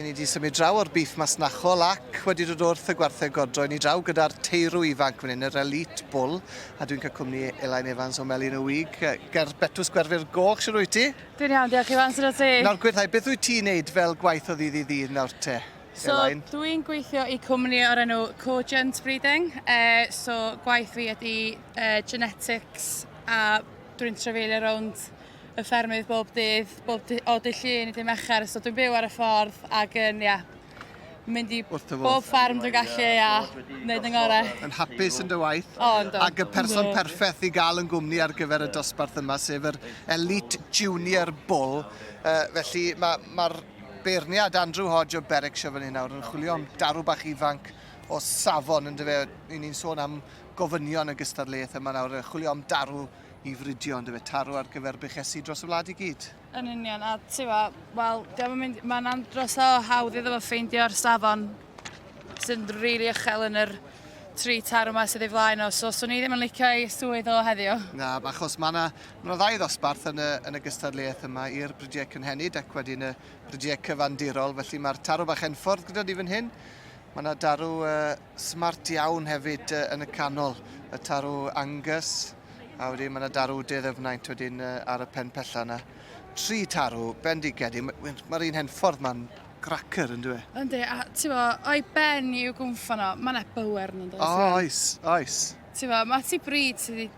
Ry'n ni wedi symud draw o'r booth masnachol ac wedi dod wrth y gwartheg godro. Ry'n ni draw gyda'r teirw ifanc fan hyn, yr Elite Bull, a dwi'n cael cwmni Elain Evans o Melin y Wig, ger Betws Gwerfyr Goch, siwr wyt ti? Dwi'n iawn, diolch Iwan, sut o ti? Nawr gwyrdhau, beth wyt ti'n neud fel gwaith o ddydd i ddydd nawr te? So, dwi'n gweithio i cwmni o'r enw Cogent Breeding. Uh, so, gwaith fi ydy uh, genetics a dwi'n trefeilio rownd y ffermydd bob dydd, bob dy, o dy llun i dy mercher, so dwi'n byw ar y ffordd ac yn, ia, mynd i bob ffarm dwi'n gallu a wneud yn gorau. Yn hapus yn dy waith. O, ynddo. Ac y person perffaith i gael yn gwmni ar gyfer y dosbarth yma, sef yr Elite Junior Bull. Uh, felly mae'r ma, ma beirniad Andrew Hodge o Berwickshire fan hyn nawr yn chwilio am darw bach ifanc o safon, yn dyfe, ni'n sôn am gofynion y gystadleuaeth yma nawr, chwilio am darw i fridio on'd yfe? Taro ar gyfer buchesu dros y wlad i gyd. Yn union, a ti'bo, wel, diolch yn mynd, mae'n andros o hawdd iddo fo ffeindio'r safon sy'n rili really uchel yn yr tri tar yma sydd ei flaen o, so swn i ddim yn licio ei swydd o heddiw. Na, achos mae yna ma ddau ddosbarth yn y, yn y gystadleuaeth yma i'r brydiau cynhenid ac wedyn y brydiau cyfandirol, felly mae'r tarw bach enffordd gyda ni fan hyn. Mae yna darw uh, smart iawn hefyd uh, yn y canol, y tarw Angus, a wedyn mae yna darw De Ddyfnaint wedyn uh, ar y pen pella yna. Tri tarw, bendigedig, mae'r ma, ma un henffordd ma'n cracker yn dweud. Yndi, a ti'n fo, o'i ben i'w gwmffo no, mae yna bywer yn dweud. Oh, oes, oes. Ti'n fo, mae ti bryd sydd wedi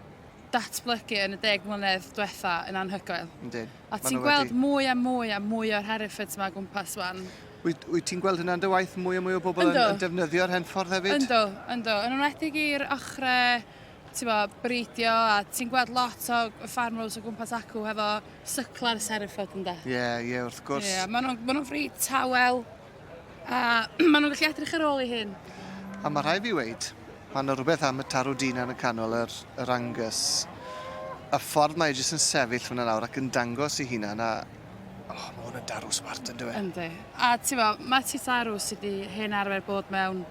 datblygu yn y deg mlynedd diwetha yn anhygoel. Yndyn. A ti'n gweld wedi... mwy a mwy a mwy o'r Hereffords yma gwmpas wan. Wyt, wyt ti'n gweld hynna'n dy waith mwy a mwy o bobl yn, yn defnyddio'r henffordd hefyd? Ynddo, ynddo. Yn enwedig i'r ochrau bo, breidio a ti'n gweld lot o farmers o gwmpas acw hefo syclau'r Hereford ynda. Ie, yeah, ie, yeah, wrth gwrs. Ie, yeah, maen nhw'n ma nhw fryd tawel. A maen nhw'n gallu edrych ar ôl ei hyn. A mae rhai fi weid, mae yna rhywbeth am y tarw dyn yn y canol yr, yr angus. Y ffordd mae e jyst yn sefyll hwnna nawr ac yn dangos i hunan a... O, oh, mae hwn yn darw smart yn dweud. Yndi. A ti'n fo, mae ti tarw sydd wedi hen arfer bod mewn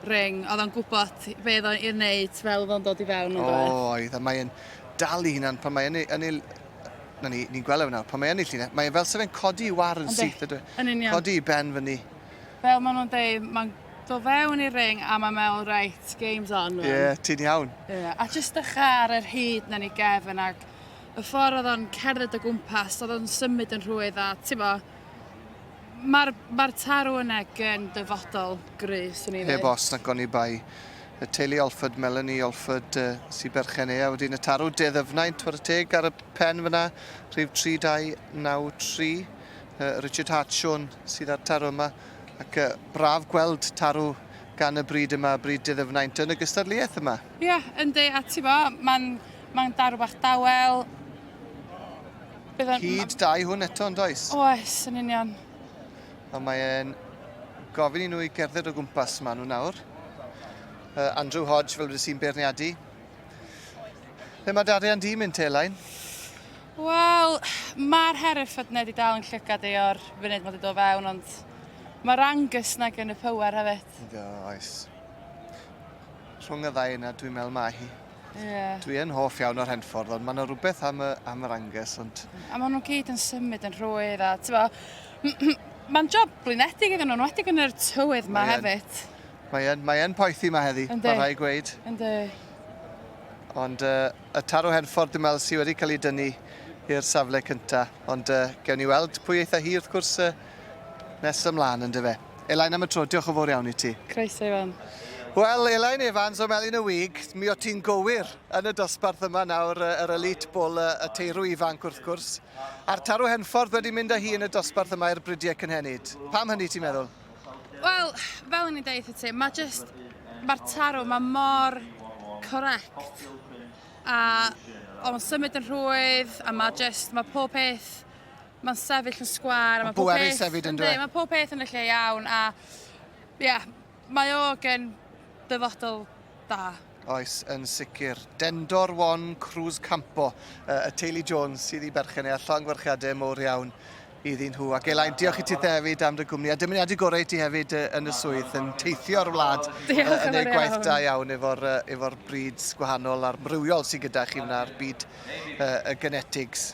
ring, oedd o'n gwybod fe oedd o'n i'r wneud fel oedd o'n dod i fewn yn dweud. O, oedd, a mae'n dal i hunan pan mae'n yn ei, yn ei Na ni, ni'n gweld e nawr, pan mae yn ei llun, e, mae e fel se fe'n codi i war yn Yndi, syth, ydw e? yn union. Codi i ben fyny. Fel maen nhw'n deud, mae'n do fewn i'r ring a mae'n meddwl, reit, game's on. Ie, Yeah. ti'n iawn. Yeah. A jyst dechrau ar yr hyd na ni gefn ac y ffordd oedd o'n cerdded o gwmpas, oedd o'n symud yn rhwydd a ti'n mo, Mae'r ma tarw yna gen dyfodol gry, swn i'n Heb os na goni bai. Y teulu Olford, Melanie Olford, uh, si berchen ea wedyn y tarw de ddyfnaint twr y teg ar y pen fyna, rhyw 3293. Uh, Richard Hartshorn sydd â'r tarw yma, ac uh, braf gweld tarw gan y bryd yma, bryd de ddyfnaint yn y gystadleuaeth yma. Ie, yeah, yndi, a ti bo, mae'n ma darw bach dawel, Byddai'n... Hyd da i hwn eto, yn does? Oes, yn union. A mae'n gofyn i nhw i gerdded o gwmpas maen nhw nawr. Uh, Andrew Hodge, fel wedi sy'n beirniadu. Ble mae darian di mynd te, Elain? Wel, mae'r Hereford neu di dal yn llygad ei o'r funud mae wedi dod fewn, ond mae'r Angus na gen y power hefyd. Do, oes. Rhwng y ddau yna, dwi'n meddwl mae hi. Yeah. Dwi yn hoff iawn o'r henffordd, ond mae yna rhywbeth am, y, am yr anges. Ond... A maen nhw'n gyd yn symud yn rhwydd, a ti'n bo, mae'n job blinedig iddyn nhw'n wedi yn yr tywydd yma hefyd. Mae yn, mae yn poethi yma heddi, mae rhai gweud. Yndi. Ond uh, y taro henffordd dwi'n meddwl sydd wedi cael ei dynnu i'r safle cyntaf. Ond uh, gewn ni weld pwy eitha hi wrth gwrs uh, nes ymlaen yn dyfe. Elain am y tro, diolch yn fawr iawn i ti. Croeso i fewn. Wel, Elain Evans o Melin y Wig, mi o ti'n gywir yn y dosbarth yma nawr, yr elite bwl, y teirw ifanc wrth gwrs. A'r tarw henffordd wedi mynd â hi yn y dosbarth yma i'r bridiau cynhenid. Pam hynny ti'n meddwl? Wel, fel yn ei deith y ti, mae just, mae'r tarw, mae mor correct. A o'n symud yn rhwydd, a mae just, mae pob peth Mae'n sefyll yn sgwar. Mae'n bwerus hefyd yn dweud. Mae pob peth yn y lle iawn a ia, mae o gen dyfodol da. Oes, yn sicr. Dendor Wan Cruz Campo, uh, y teulu Jones sydd i berchen ei llong werchiadau mowr iawn iddyn nhw. Ac Elain, diolch i ti hefyd am dy gwmni. A dymuniadu gorau i ti hefyd yn y swydd, yn teithio'r wlad, yn ei gwaith da iawn efo'r efo breeds gwahanol a'r mrywiol sydd gyda chi wna'r byd y genetics.